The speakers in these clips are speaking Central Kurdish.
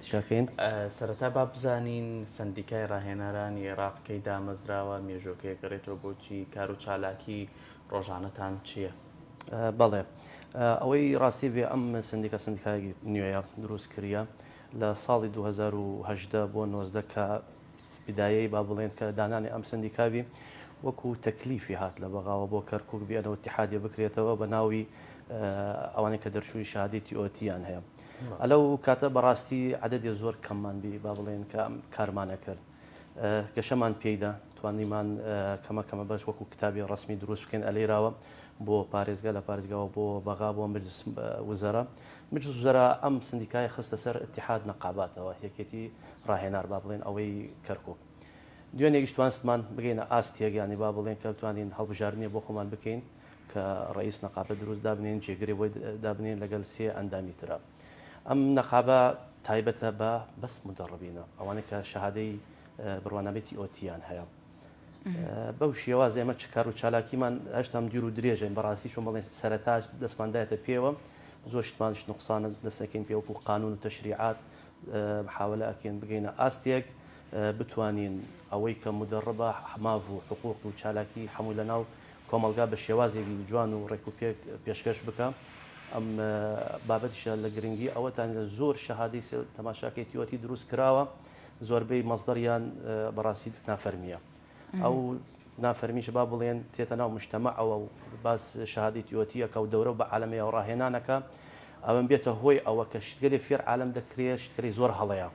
دەکەین. سەرەتا با بزانین سەندیکای ڕاهێنەرانی عێراق کەی دامەزراوە، مێژووەکەی ئەگەڕێتەوە بۆ چی، کار و چالاکی ڕۆژانەتان چییە؟ بەڵێ ئەوەی ڕاستی بێ ئەم سەندیکا سەندیکایەکی نوێیە دروست کریە لە ساڵی دوو هەزار و هەژدە بۆ نۆزدە کە بدایەی با بڵێن کە دانانی ئەم سەندیکابی وەکو تەکلیفی هات لە بەغاوە بۆ کەرکک بیانەوە تحادێ بکرێتەوە بە ناوی ئەوانەی کە دەرچووی شادی تیۆتییان هەیە. لەو کاتە بەڕاستی عەدەدێ زۆر کەممان بی با بڵێن کە کارمانە کرد گەشەمان پێیدا توانیمان کەمە کەمە بەش وەکو کتابی ڕسمی دروست بکەین ئەلێراوە بۆ پارێزگا لە پارێزگاوە بۆ بەغا بۆ مجلس وزەرا مجلس وزەرا ئەم سندیکای خستە سەر اتحاد نەقاباتەوە یەکێتی ڕاهێنار با بڵێن ئەوەی کەرکک دوێنێکیش توانستمان بگەینە ئاستێک ینی با بڵێن کە بتوانین هەڵبژاردنێ بۆ خۆمان بکەین کە ڕەئیس نەقابە دروست دابنێن جێگرێ بۆی دابنێن لەگەل سێ ئەندامی ترا ئەم نەقابە تایبەتە بە بەس مدەڕبینە ئەوانە کە شەهادەی بڕوانامەی تیۆتیان هەیە بەو شێواز ئێمە چ کار و چالاکیمان هەشتام دیر و درێژین بەڕاستی چۆن بڵێن سەرتاش دەستماندایەتە پێوە زۆر شتمانش نقصانە دەسەکەین پێوەکو قانون و تەشریعات محاولە ئەکەین بگەینە ئاستێک بتوانین ئەوەی کە مودەڕبە ماف و حقوق و چالاکی حەمووی لە ناو کۆمەڵگا بە شێوازێکی جوان و ڕێک و پێک پێشکەش بکا ئەم بابەتیشە لە گرنگی ئەوەتان زۆر شەهادەی سێ تەماشا کەی تیۆتی دروست کراوە زۆربەی مەزدەریان بەڕاستی نافەرمیە ئەو نافەرمیش با بڵێن تێتە ناو مشتەمە ئەوە و باس شەهادەی تیۆتیەکە و دەورە بە عالەمەیە و ڕاهێنانەکە ئەوەم بێتە هۆی ئەوە کە شتگەلی فێر عالم دەکرێت شتگەلی زۆر هەڵەیە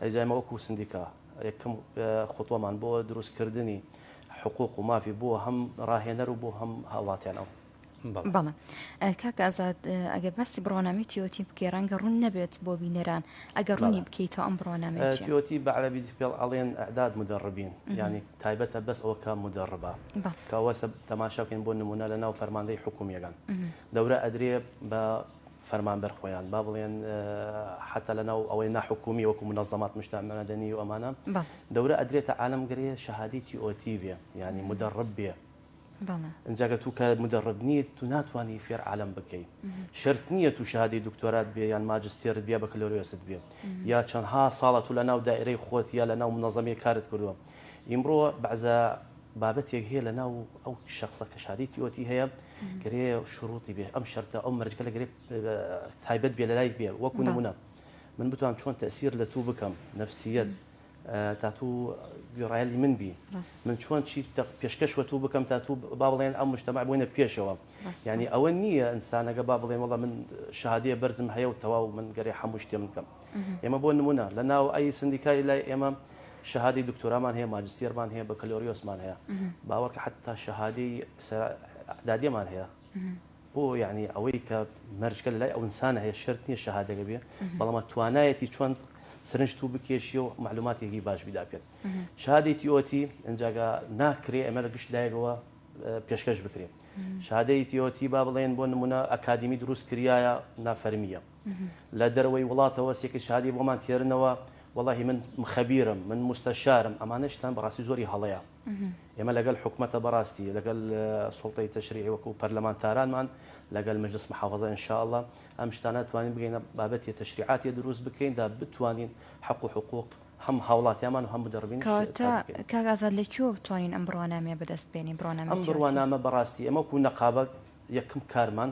ئەی جا ئێمە وەکو سندیکا یەکەم خوتوەمان بۆ دروست کردنی حقوق و مافی بۆ هەم ڕاهێنەر و بۆ هەم هاوڵاتیانەوە. بەڵێ کاک ئازاد ئەگەر باسی بڕوانامەی تیۆتی بکەی ڕەنگە ڕوون نەبێت بۆ بینەران ئەگەر ڕوونی بکەیتەوە ئەم بڕوانامەیە چیە؟ تیۆتی بە عەرەبی پێڵ ئەڵێن ئەعداد مودەڕبین یانی تایبەتە بەس ئەوە کە مودەڕبە کە وەسە تەماشا بکەین بۆ نموونە لەناو فەرماندەی حکوومییەکان دەورە ئەدرێ بە فەرمانبەر خۆیان با بڵێن حەتا لەناو ئەوەی ناحکومی وەکو منەزەمات مشتاعمە مەدەنی و ئەمانە دەورە ئەدرێتە عالم گرێ شەهادی تی ئۆتی بێ ینی مدەڕب بێ ئەجاگە تو کە مدەڕب نییە تو ناتوانانی فێر عالم بکەی شرت نییە تو شادی دکتۆرات بێ یان ماجستێرت بیا بە کلۆرێست بێ یا چەندها ساڵە تو لە ناو دائرەی خۆت یا لە ناو منەزەمی کارت کردووە ئیمڕۆ بەعزە بابەتێک هەیە لە ناو ئەو شخصە کە شادی تیۆتی هەیە گرێ شروعی بێ ئەم شەرتە ئەو مەرجکە لە گرێ تایبەت بێ لە لای بێ وەکو نمونە من بتوان چۆن تەسیر لە تو بکەم نفسیت تا تو گوێڕایلی من بی من چۆن چی پێشکەش وە تو بکەم تا تو با بڵێن ئەم مشتەما بۆینە پێشەوە یعنی ئەوە نییە ئینسانەکە با بڵێن وڵە من شادەیە بەرزم هەیە و تەواو من گەرێ هەموو شتێ من بکەم ئێمە بۆ نمونە لە ناو ئەی سندیکای لای ئێمە شەهادی دکتۆرامان هەیە ماجستێرمان هەیە بە کەلۆریۆسمان هەیە باوەڕکە حتا شەهادی دادێمان هەیە بۆ یعنی ئەوەی کە مەرجکە لای ئەوسانە هەیە شرت نیە شەهادەگە بێ بەڵامە توانایەتی چۆن سرنج تو بکێشی و معلوماتێکی باش بیدا پێت شادێکی ئۆتی ئەجاگا ناکرێ ئەمە لە گشت لایەوە پێشکەش بکرێت شادەیتیۆتی با بڵێن بۆ نمونە ئەکادمی دروست کریایە نافەرمیە لە دەرەوەی وڵاتەوە سێ کچ هادی بۆمان تێرنەوە وەڵاهی من خەبیرم من موستەشارم ئەمانە شتان بەڕاستی زۆری هەڵەیە ئێمە لەگەل حکومەتە بەڕاستی لەگەل سوڵتەی تەشریعی وەکو پەرلەمانتارانمان لەگەل مەجلس محافظە ان شاء اللە ئەم شتانە توانین بگەینە بابەتی تەشریعاتی دروست بکەین دا بتوانین حق و حقوق هەم هاوڵاتیامان و هەم بدەڕبین کاتە کاک ئازاد لە کوێوە بتوانین ئەم بڕوانامەیە بەدەست بێنین بڕوانامە ئەم بڕوانامە بەڕاستی ئەمە وەکو نەقابە یەکم کارمان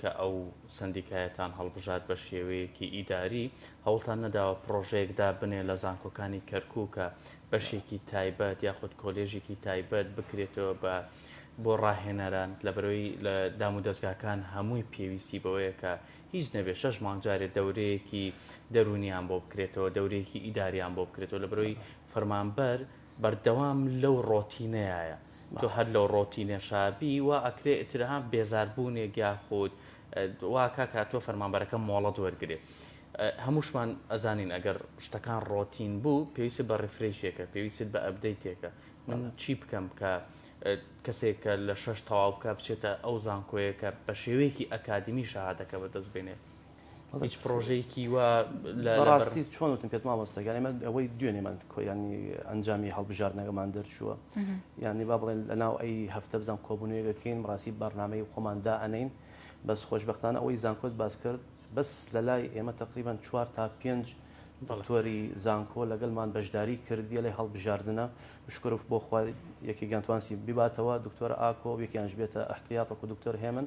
کە ئەو سەندیکایەتان هەڵبژارد بە شێوەیەکی ئیداری، هەوڵتان نەداوە پڕۆژەیەک دابنێ لە زانکۆکانی کەرکوک کە بەشێکی تایبەت یاخود کۆلێژێکی تایبەت بکرێتەوە بە بۆ ڕاهێنەران، لەبەرەوەی لە دامودەزگاکان هەمووی پێویستی بەوەیە کە هیچ نەبێ شەش مانگ جارێ دەورەیەکی دەرونیان بۆ بکرێتەوە، دەورەیەکی ئیداریان بۆ بکرێتەوە، لەبەرەوەی فەرمانبەر. بەردەوام لەو ڕۆتینەیایە تۆ هەر لەو ڕۆتینەشا بی وا ئەکرێ ئیتر ها بێزار بوونێک یاخود وا کاک هاتووە فەرمانبەرەکە مۆڵەت وەرگرێ هەمووشمان ئەزانین ئەگەر شتەکان ڕۆتین بوو پێویست بە ڕیفرەیشێکە پێویست بە ئەبدەیتێکە من چی بکەم کە کەسێک کە لە شەش تەواو بکە بچێتە ئەو زانکۆیە کە بە شێوەیەکی ئەکادیمی شەهادەکە بەدەست بێنێ هیچ پرۆژەیەکی وا لە ڕاستی چۆن وتم پێت مامۆستا یانی من ئەوەی دوێنێمان کۆیانی ئەنجامی هەڵبژاردنەکەمان دەرچووە یانی با بڵێن لە ناو ئەی هەفتە بزانام کۆبوونەیەکەکەین ڕاستی بەرنمەی خۆمان دا ئەنین بەس خۆشببختانە ئەوەی زانکۆت باس کرد بەس لە لای ئێمە تقریبان چوار تا پێنج دڵتۆری زانکۆ لەگەڵمان بەشداری کردیە لە هەڵبژاردنە شکرف بۆ خوارد یەکی گەنتوانسی بباتەوە دکتۆر ئاکۆ یەکیانش بێتە احتیاطە و دکتۆر هێمن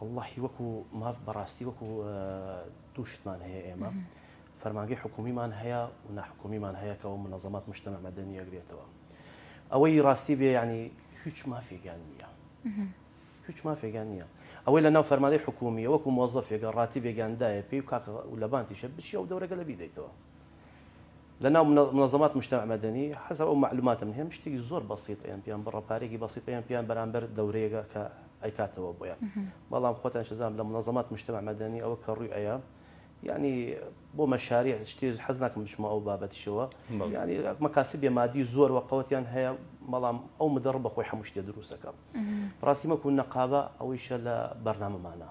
وەڵڵاهی وەکو ماف بەڕاستی وەکو دوو شتمان هەیە ئێمە فەرمانگەی حکومیمان هەیە و ناحکومیمان هەیە کە ئەو منەزەمات مشتەمە مەدەنی ئەگرێتەوە ئەوەی ڕاستی بێ ینی هیچ مافێکیان نییە هیچ مافێکیان نییە ئەوەی لە ناو فەرمانەی حکومیە وەکو مۆزەفێکە ڕاتی بێگەاندایە پێی و کاکە لەبانتیشە بچی ئەو دەورەگە لە بیدەیتەوە لەناو منظمات مجتمع مدنی حەسەب ئەو مەعلوماتەم هەیە شتێکی زۆر بەسیط ئەیان پێیان بڕە پارەیەکی بەسیط ئەیان پێیان بەرامبەر دەورەیەگە کە ئەیکاتەوە بۆیان بەڵام خۆتان شزان لە منظمات مجتمع مدنی ئەوە کە ڕووی ئەیە یعنی بۆ مەشاری شتی حەز ناکەم بچمە ئەو بابەتیشەوە ینی مەکاسی بێمادی زۆر وە قوتیان هەیە بەڵام ئەو مدەڕ بەخۆی هەموو شتێ دروستەکە ڕاستیمەکو نەقابە ئەوەیشە لە بەرنامەمانە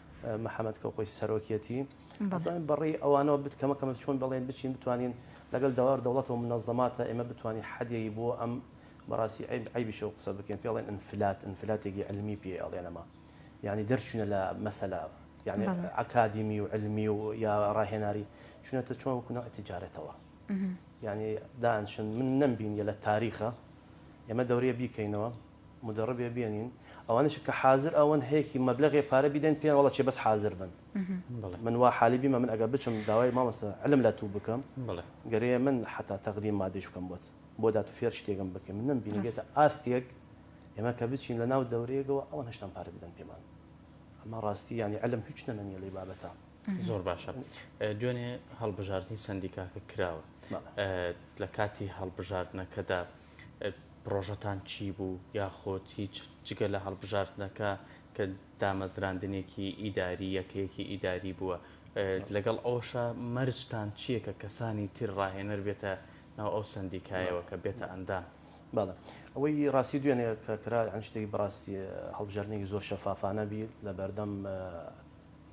محمد کە خۆی سەرۆکیەتی ئەتوانین بەڕێی ئەوانەوە بت کەمە کەمە چۆن بەڵێن بچین بتوانین لەگەڵ داوار دەوڵەت و منەزەماتە ئێمە بتوانین حەدیەی بۆ ئەم بەڕاستی عیب عیبیشە و قسە بکەین پێڵێن ئەنفلات ئەنفلاتێکی علمی پێ ئەڵێنەما یعنی دەرچوونە لە مەسەلا یعنی ئەکادیمی و علمی و یا ڕاهێناری چونەتە چۆن وکونا تجارەتەوە یعنی دانشن من نەمبینیە لە تاریخە ئێمە دەورەیە بیکەینەوە مدەڕبێ بێنین ئەوانش کە حازر ئەوەن هەیەکی مەبلغێ پارە بیدەن پێیان وڵە چێ بەس حازر بن من وا حالی بیمە من ئەگە بچم داوای مامەسە علم لە تو بکەم گەرەیە من حتا تەقدیم مادەش بکەم بۆت بۆ دات فێر شتێکم بکەم من نم بینێتە ئاستێک ئێمە کە بچین لە ناو دەورەیەکەوە ئەوان هشتان پارە بدەن پێمان ئەمە ڕاستی ینی علم هیچ نەمەنیە لی بابەتە زۆر باشە دوێنێ هەڵبژاردننی سندیکاکە کراوە لە کاتی هەڵبژاردنەکەدا پڕۆژەتان چی بوو یاخود هیچ جگە لە هەڵبژاردنەکە کە دامەزراندنێکی ئیداری یەکەیەکی ئیداری بووە لەگەڵ ئەوشە مەرجتان چییە کە کەسانی تر ڕاهێنەر بێتە ناو ئەو سندیکایەوە کە بێتە ئەندام؟ بەڵێ ئەوەی ڕاستی دوێنێ کە کرا ئەن شتێکی بەڕاستی هەڵبژاردنێکی زۆر شەفافانە بی لە بەردەم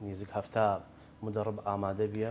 نیزیک هەفتا مدەڕب ئامادە بیە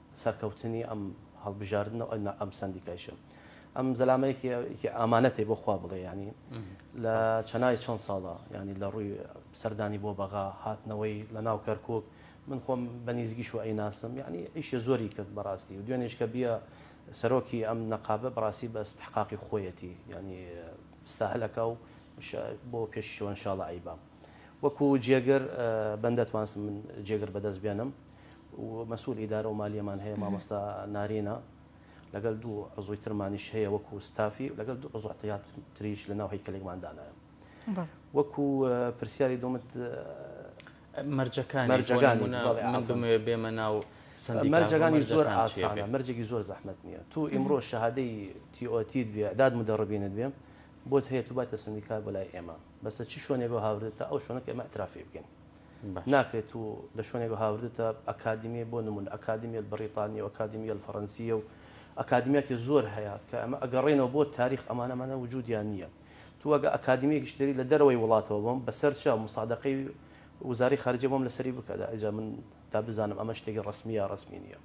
سەرکەوتنی ئەم هەڵبژاردنە و ئەنە ئەم سەندیکایشە ئەم زەلامەیەکی ئامانەتێ بۆ خوا بڵێ ینی لە چەنای چەند ساڵە ینی لە ڕووی سەردانی بۆ بەغا هاتنەوەی لە ناو کەرکک من خۆم بە نیزگیش و ئەی ناسم ینی ئیشێ زۆری کرد بەڕاستی و دوێنێش کە بیە سەرۆکی ئەم نەقابە بڕاستی بە استحقاقی خۆیەتی ینی ستاهلەکە و بۆ پێشیشەوە انشاءاللە ئەیبا وەکو جێگر بەندەتوانسم من جێگر بەدەست بێنم مەسول ئیدارە و مالیەمان هەیە مامۆستا نارینە لەگەل دوو عزوی ترمانیش هەیە وەکو ستافی لەگەل دوو عزو عتیات تریش لە ناو هەیکەلێکمان دانایە وەکو پرسیاری دومت مەرجەکانی بێمە ناو مەرجەکانی زۆر ئاسانە مەرجێکی زۆر زەحمت نییە تو ئیمڕۆ شەهادەی تیۆتیت بێ داد مدەڕبینت بێ بۆت هەیە تو باتە سندیکار بۆ لای ئێمە بەسە چی شوێنێ بۆ هاوردێت تا ئەو شوێنەکە ئێمە ئەترافی بکەین ناکرێت و لە شوێنێک هاوردتە ئەکادیمیە بۆ نمونە ئەکادیمیە بەڕیتانیە و ئەکادیمیە الفرنسیە و ئەکادیمیاتی زۆر هەیە کە ئەمە ئەگەڕێنەوە بۆ تاریخ ئەمانە ئەمانە وجودیان نییە تو ئەگە ئەکادیمیە گشتێری لە دەرەوەی وڵاتەوە بۆم بەسەر چا مسادەقەی وزارەی خارجیە بۆم لەسەری بکە دا ئەجا من دا بزانم ئەمە شتێکی ڕەسمیە یا ڕەسمی نییە.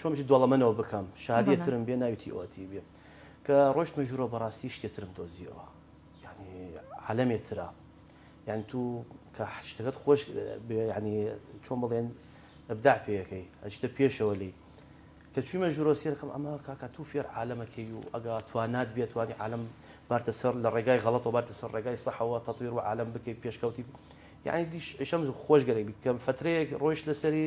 چۆن بچی دۆڵەمەنەوە بکەم شادیە ترم بێ ناوی تی ئۆتی بێ کە ڕۆشتمە ژوورۆ بەڕاستی شتێ ترم دۆزیەوە ینی عالەمێ تررا یان تو کە شتەکەت خۆش ینی چۆن بڵێن ئەبدا پێەکەی ئەشتە پێشەوە لی کە چوومە ژورۆ سێرکەم ئەمە کاکە تو فێر عالەمەکەی و ئەگا توانات بێت توانی عالم بارتە سەر لە ڕێگای غەڵەت و بارتە سەر ڕێگای سەحەوە تەطویر و عالم بکەیت پێشکەوتی یعنی دیش ئەشەم خۆشگەرەی بکەم فترەیەک ڕۆیش لەسەری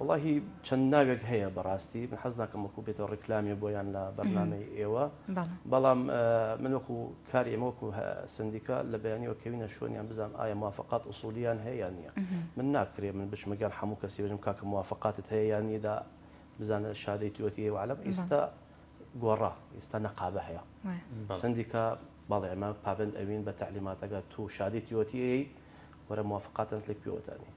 وەڵاهی چەند ناوێک هەیە بەڕاستی من حەز ناکەم وەکو بێتەوە ڕیکلامی بۆیان لە بەرنامەی ئێوە بەڵام من وەکو کار ئێمە وەکو سندیکا لە بەیانیەوە کەوینە شوێنیان بزانام ئایا موافقات ئوسولیان هەیە نییە من ناکرێ من بچمەگەر هەموو کەسی بژم کاکە موافقاتت هەیە یان نیدا بزانە شادەی توەتی هەیە وعلم ئیستا گۆڕا ئیستا نەقابە هەیە سندیکا بەڵێ ئەمە پابند ئەوین بە تعلیماتەکە تو شادی توەتی وەرە موافقاتن لە کوێوەتانی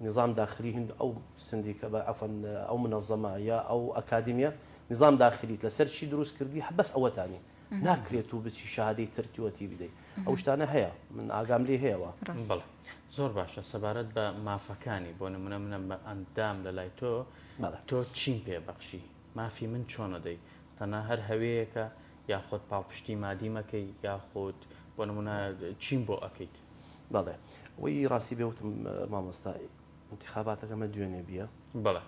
نظام داخلی هند ئەو سندیکە بە عەفوەن ئەو منەزەمە یا ئەو ئەکادیمیە نظام داخلیت لەسەر چی دروست کردی هە بەس ئەوەتانی ناکرێت تو بچی شەهادەی تر تیوە تی بدەی ئەو شتانە هەیە من ئاگام لێ هەیە وە ڕاست بەڵێ زۆر باشە سەبارەت بە مافەکانی بۆ نمونە منە بە ئەندام لە لای تۆ بەڵێ تۆ چیم پێ بەخشی مافی من چۆن ئەدەی تەنها هەر هەوێیەکە یاخۆد پاڵپشتی مادی مەکەی یاخود بۆ نمونە چیم بۆ ئەکەیت بەڵێ وی ڕاستی بێوتم مامۆستا انتخاباتەکە مە دوێنێ بیە بەڵێ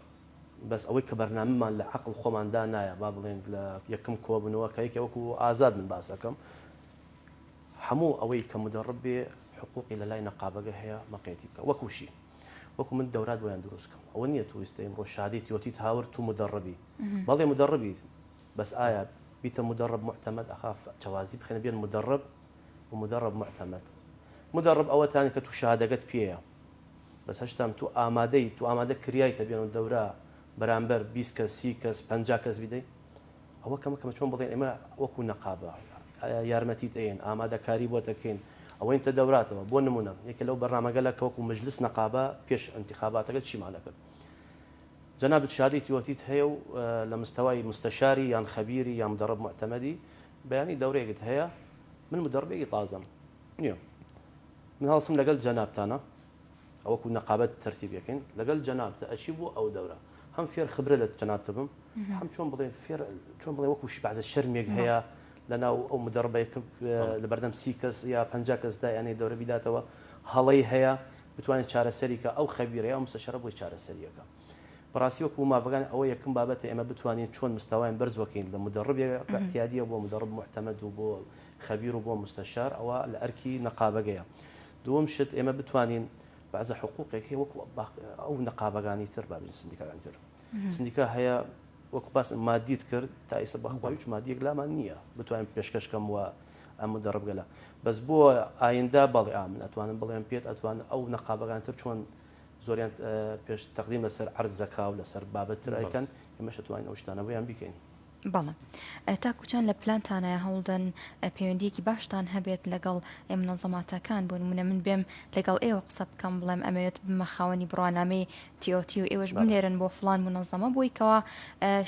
بەس ئەوەی کە بەرنامەمان لە عقل خۆماندا نایە با بڵێن لە یەکەم کۆبنەوە کایکە وەکو ئازاد من باسەکەم هەموو ئەوەی کە مدەڕب بێ حقوقی لە لای نەقابەگە هەیە مەقێتی بکە وەکوشی وەکو من دەورات بۆیان دروستکەم ئەوە نییە تویستەیم ڕۆشادی تۆتیت هاورد تو مدەڕبی بەڵێ مدەڕبی بەس ئایا بیتە مدرب معتمد ئەخاف چەوازی بخەنە بێن مدرب و مدرب معتمد مدرب ئەوە تان کە تو شادەگەت پێیە بەس هەشتام تو ئامادەی تو ئامادە کریایتە بێن و دەورە بەرامبەر بیست کەس سی کەس پەنجا کەس بیدەی ئەوە کەمە کەمە چۆن بڵێن ئێمە وەکو نەقابە یارمەتیت ئەین ئامادەکاری بۆ دەکەین ئەوەین تە دەوراتەوە بۆ نمونە یەکە لەو بەرنامەگەلە کەوەکو مجلس نەقابە پێش انتخاباتەکە چیمانەکرد جەنابت شادی تیۆتیت هەیە و لە مستەوای مستەشاری یان خەبیری یان مدەڕب موعتەمەدی بەیانی دەورەیەکت هەیە من مدەڕبێکی تازەم نیەم من هەڵسم لەگەل جەنابتانە ئەوەکو نەقابەت تەرتیبەکەین لەگەل جەنابتە ئەچی بۆ ئەو دەورە هەم فێر خبرە لە جەنابتە بم هەم چۆن بڵێ فێر چۆن بڵێ وەکو شبعزە شەرمێک هەیە لەناو ئەو مدەڕبەیەکە لە بەردەم سی کەس یا پ کەس دایانەی دەورە بیداتەوە هەڵەی هەیە بتوانێت چارەسەری کا ئەو خەبیرە یا مستەشەرە بۆی چارەسەری ئەکا بەڕاستی وەکو مافەکان ئەوە یەکەم بابەتە ئێمە بتوانین چۆن مستەوایان بەرز وەکەین لە مدەڕب یە کە ئتیادیە بۆ مدەڕب موعتەمەد و بۆ خەبیر و بۆ مستەشار ئەوە لە ئەرکی نەقابەگەیە دووەم شت ئێمە بتوانین بەعزە حقوقێک هەیە وەکو باقی ئەو نەقابەگانی تر با بین سندیکاگانی تر سندیکا هەیە وەکو باس مادیت کرد تا ئیسە بەخوای هیچ مادیەک لامان نییە بتوانین پێشکەشکەم وە ئەمە دەڕبگەلە بەس بۆ ئایندا بەڵێ ئامن ئەتوانم بڵێم پێت ئەتوان ئەو نەقابەکان تر چۆن زۆریان پێش تەقدیم لەسەر عرزەکا و لەسەر بابەتتر ئەیکەن ئێمەش توانین ئەو شتانەوەیان بیکەین بەڵێ تاکوچان لە پلانتانایە هەوڵدەن پەیوەندیەکی باشتان هەبێت لەگەڵ منەڵزەماتەکان بۆ منە من بێم لەگەڵ ئێوە قسە بکەم بڵێم ئەمەوێت بمە خاوەنی بڕوانامەی تیۆتی و ئێوەش بنێرن بۆ فلان منەڵزەمە بۆیکەوە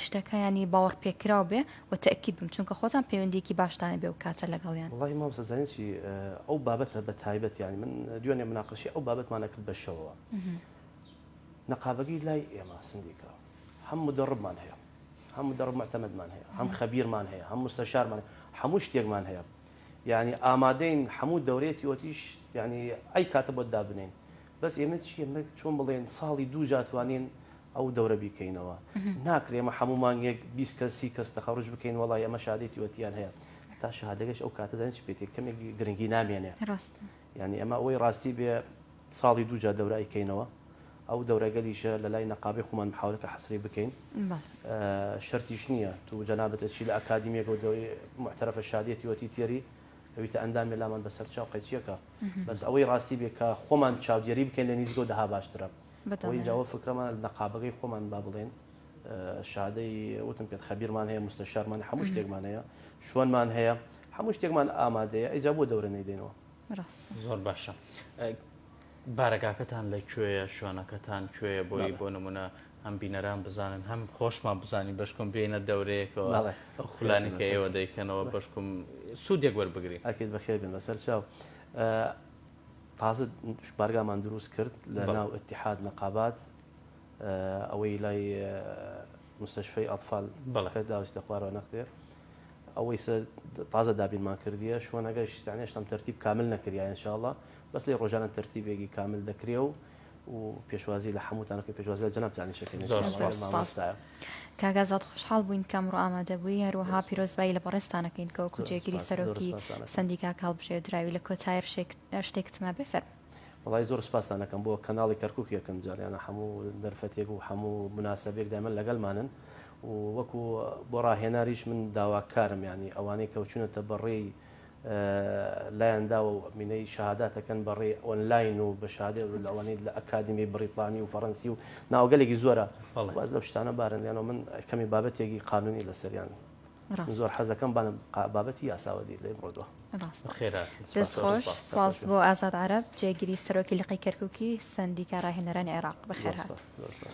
شتەکەیانی باوەڕ پێکراو بێ و تەئکید بم چونکە خۆتان پەیوەندیەکی باشتان هەبێ و کاتە لەگەڵیان. وەڵاهی مامۆستا زانین چی ئەو بابەتە بە تایبەت یانی من دوێنێ مناقەشەی ئەو بابەتمان ئەکرد بە شەوەوە نەقابەگەی لای ئێمە سندیکا هەم مدەڕبمان هەیە هەم مدەڕب معتەمەدمان هەیە هەم خەبیرمان هەیە هەم موستەشارمان هەیە هەموو شتێکمان هەیە یانی ئامادەین هەموو دەورەیەکی ئۆتیش یانی ئەی کاتە بۆت دابنێین بەس ئێمە چیە مەک چۆن بڵێن ساڵی دوو جا توانین ئەو دەورە بیکەینەوە ناکرێ ئمە حەموو مانگێک بیست کەس سی کەس تەخەڕوج بکەین وەڵای ئەمە شادێتی وەتیان هەیە تا شادەگەش ئەو کاتە زانین چ پێێتی کەمێک گرنگی نامێنێ ینی ئەمە ئەوەی ڕاستی بێ ساڵی دوو جا دەورە ئەیکەینەوە ئەو دەورەگەلیشە لە لای نەقابی خۆمان محاولەکە حەسری بکەین شەرتیش نییە تو جەنابەتە چی لە ئەکادیمیەکە و دەوری محتەرەفە شادێتی وەتی تێری ئەویتە ئەندام مێلامان بەسەر چاو قەیچیەکە بەس ئەوەی ڕاستی بێ کە خۆمان چاودێری بکەین لە نیزگەو دەها باشترە بۆ ئینجا وە فکرەمان نەقابەکەی خۆمان با بڵێن شادەی وتم پێت خەبیرمان هەیە مستەشارمان هەموو شتێکمان هەیە شوێنمان هەیە هەموو شتێکمان ئامادەیە ئەیجا بۆ دەورە نەیدەینەوە ڕاستە زۆر باشە. بارەگاکەتان لە کوێیە شوێنەکەتان کوێیە بۆی بۆ نمونە هەم بینەران بزانن هەم خۆشمان بزانین بەشکم بێنە دەورەیەکەوە ئەو خولانی کە ئێوە دەیکەنەوە بەشکم سوودێک وەربگرین ئەکرد بەخێر بن بەسەر چاو تازت بارگامان دروست کرد لە ناو اتحاد نەقابات ئەوەی لای مستشفی ئەطفال بەڵەکە داویستە خوارەوە نەقێ ئەوەی تازە دابینمان کردیە شوۆنەگەشتانێشتم تەرتیب کامل نەکریان انشاءله بەس لێ ڕۆژانە تەرتیبێگی کامل دەکرێ و و پێشوازی لە حەمووتان ئەکەین پێشوازی لە جەنابتانیش ئەکەین ان زۆر شاء الله زۆر سوپاس. سوپاس. مامۆستایە. کاک ئازاد خۆشحاڵ بووین کە ئەمڕۆ ئامادە بووی هەروەها زۆر سوپاس. پیرۆزبایی لە بەڕێزتان ئەکەین کە وەکوو زۆر جێگری سوپاس زۆر سەرۆکی سوپاستان ئەکەم. سەندیکاکە هەڵبژێردراوی لە کۆتایی ڕشێک شتێکتمە بێ فەرموو. وەڵایی زۆر سوپاستان ئەکەم بۆ کەناڵی کەرکووک یەکم جار یانە حەموو دەرفەتێک و حەموو موناسەبێک دایمەن لەگەلمانن و وەکوو بۆ ڕاهێناریش من داواکارم یانی ئەوانەی کەوچوونەتە بەڕێی لایان داوە و مینەی شەهادات ئەکەن بە ڕێی ئۆنلاین و بە شادێ و لەوانەیە لە ئەکادیمی بریتانی و فەڕەنسی و ناوگەلێکی زۆرە بەڵێ. واز لەو شتانە بارن یانەوە من کەمێ بابەتێکی قانونی لەسەریان ڕاستە. زۆر حەزەکەم بانە بابەتی یاساوە دی لێ بڕۆ دوا. ڕاستە. بەخێرا هاتن دەست سپاس زۆر خۆش سپاس. سپاس بۆ ئازاد عەرەب جێگری سەرۆکی لقی کەرکوکی سەندیکا ڕاهێنەرانی عێراق. زۆر بەخێر هات. سپاس زۆر سپاس.